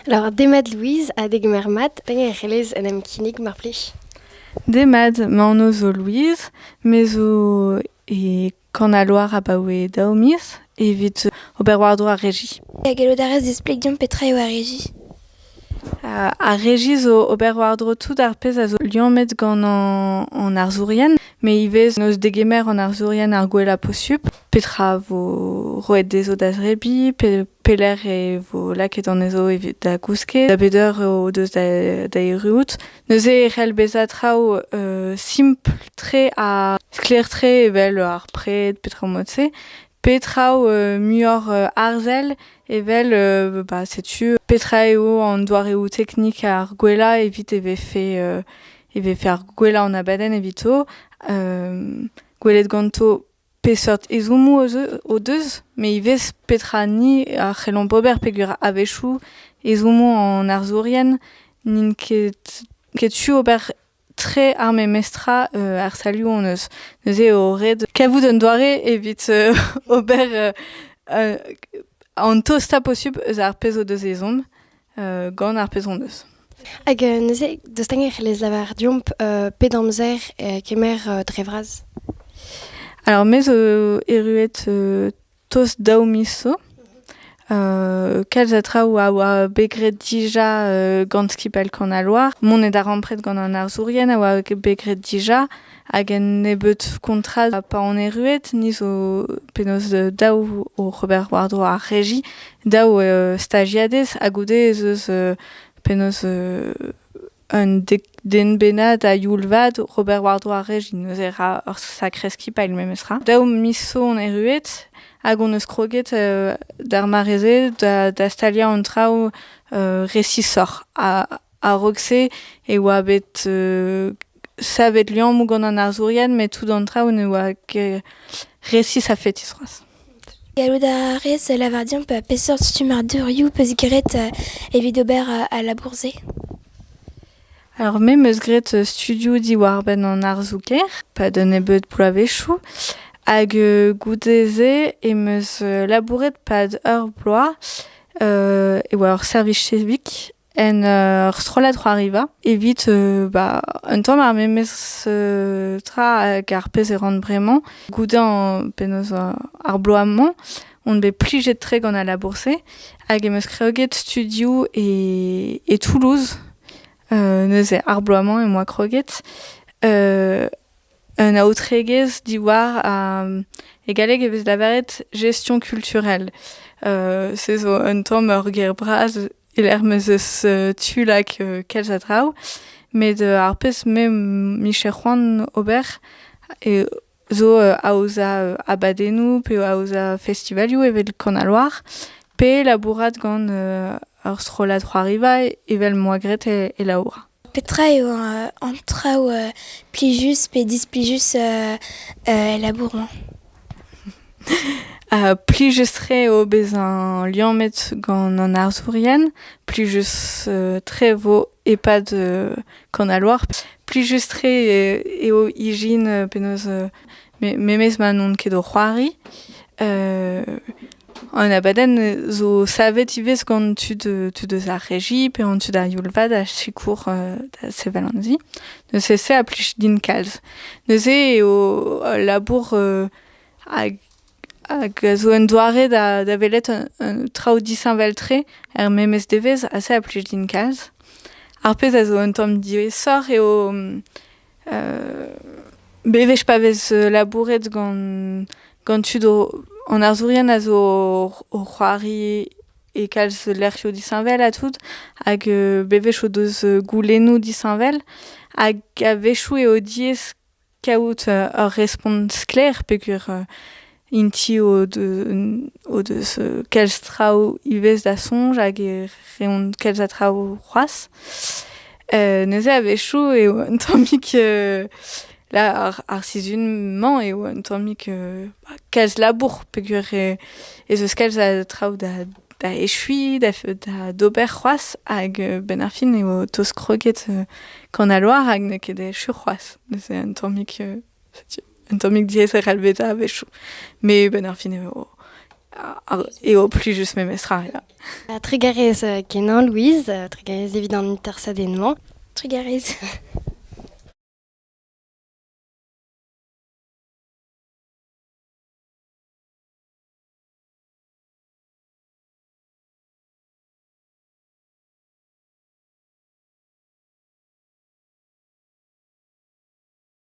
Lavaret eo demat Louise ha degemer mat pegen e c'hellez en em kinnig mar plij. Demat, ma anv zo Louise, me zo e Kanaloar abaoe daou miz evit ober war-dro ar regi. Ha gallout a rez displeg deomp petra eo ar regi? Ar regi zo ober war-dro tout ar pezh a zo liammet gant an arzourien, met ivez n'eus degemer an arzourien ar gwella posupl. petra vo roet dezho da zebriñ, pe pelec'h e vo lakaet anezho evit da gousket, da bet eur o deus da, da erruout. Neuze e c'hell bezañ traoù euh simpl-tre ha sklaer-tre evel ar pred, petra mod-se, pe traoù euh muioc'h euh arzel evel euh bah setu petra eo an doareoù teknik ar gwellañ evit e vefe euh e vefe ar gwellañ an abadenn evito, euh gwelet ganto Peseurt ezhommoù o deus met ivez petra ni a c'hellomp ober peogwir a-wechoù ezhommoù an arzourien n'int ket tu ober tre ar memestra er stalioù hon eus. Neuze eo ret kavout un doare evit ober an tostañ posubl eus ar pezh o deus ezhomm. gant ar pezh hon eus. Hag neuze, dostañ e c'hellez lavar deomp pet amzer kemer dre vras Alors, me zo erruet tost daou miz zo. kalz a traoù a oa bet graet dija gant skipailh Kanaloar. Mont eo da rampret gant an arzourien a oa bet graet dija. Hag un nebeud kontrall pa on erruet, ni zo penaos daou oc'h ober war-dro ar regi, daou stajiadez ha goude ez eus penaos un den bennak a youl vat oc'h ober war-dro ar regi, neuze ra ur sakre skipailh memestra. Daou miz zo on erruet hag on eus kroget d'ar mare-se da staliañ an traoù resisoc'h. A-raok-se e oa bet savet liammoù gant an arzourien met tout an traoù ne oa ket resis a-fetis c'hoazh. Gallout a rez lavar dimp peseurt stummadurioù 'peus graet evit ober al labour-se? Alors me 'meus graet studioù diwar-benn an arzoù-kaer pa da nebeut bloavezhioù hag goude-se em eus labouret 'pad ur bloaz e oa ur servij civique en ur strollad c'hoariva evit euh, bah, un tamm ar memes euh, tra hag ar pezh e ran bremañ. Goude an penaos euh, ar bloaz-mañ on bet plijet-tre gant al labour-se hag em eus kreoget studio e, e Toulouse euh, neuze ar bloaz-mañ em boa kroget euh, un aotregezh diwar a, e galleg e vez lavaret gestion culturelle. Euh, se zo un tamm ur ger bras e-lec'h m'ez eus tu like kalz a draoù. Met ar pezh me micher c'hoant ober zo aozañ abadennoù pe aozañ festivalioù evel Kanaloar pe labourat gant ur strollad c'hoariva evel 'moa graet e Laura. Petra eo an traoù plijus pe displijus el labour-mañ? Plijus-tre eo bezañ liammet gant an arzourien, plijus-tre vo e-pad Kannalouar, plijus-tre eo ijin penaos Memes ma n'on ket o c'hoari, an abadenn zo savet ivez gant tud, tud eus ar regi pe an tud a youl-vat a sikour da sevel an zi. Neuze se a plij din kalz. Neuze eo ul labour hag hag a zo un doare da da welet traoù disheñvel-tre er memes devezh ha se a plij din kalz. Ar pezh a zo un tamm diaesoc'h eo Bewech pa vez labouret gant gant tud an arzourien a zo o c'hoari e kalz lec'hioù disheñvel ha tout hag bewech o deus goulennoù disheñvel hag a-wechoù eo diaes kaout ur respont sklaer peogwir Int-i o deus kalz traoù ivez da soñj hag e reont kalz a traoù c'hoazh. Neuze a-wechoù eo un tammig ar sizhun-mañ eo un tammig kalz labour peogwir ez eus kalz a traoù da echuiñ, d'ober c'hoazh hag benn ar fin eo tost kroget Kanalour hag n'eo ket echu c'hoazh. Neuze un tammig... setu un tammig diaeser helvetañ a-wechoù. Met benn ar fin eo, eo plijus memestra. Ja. Trugarez kenañ, Louise. Trugarez evit an intersadenn-mañ. Trugarez.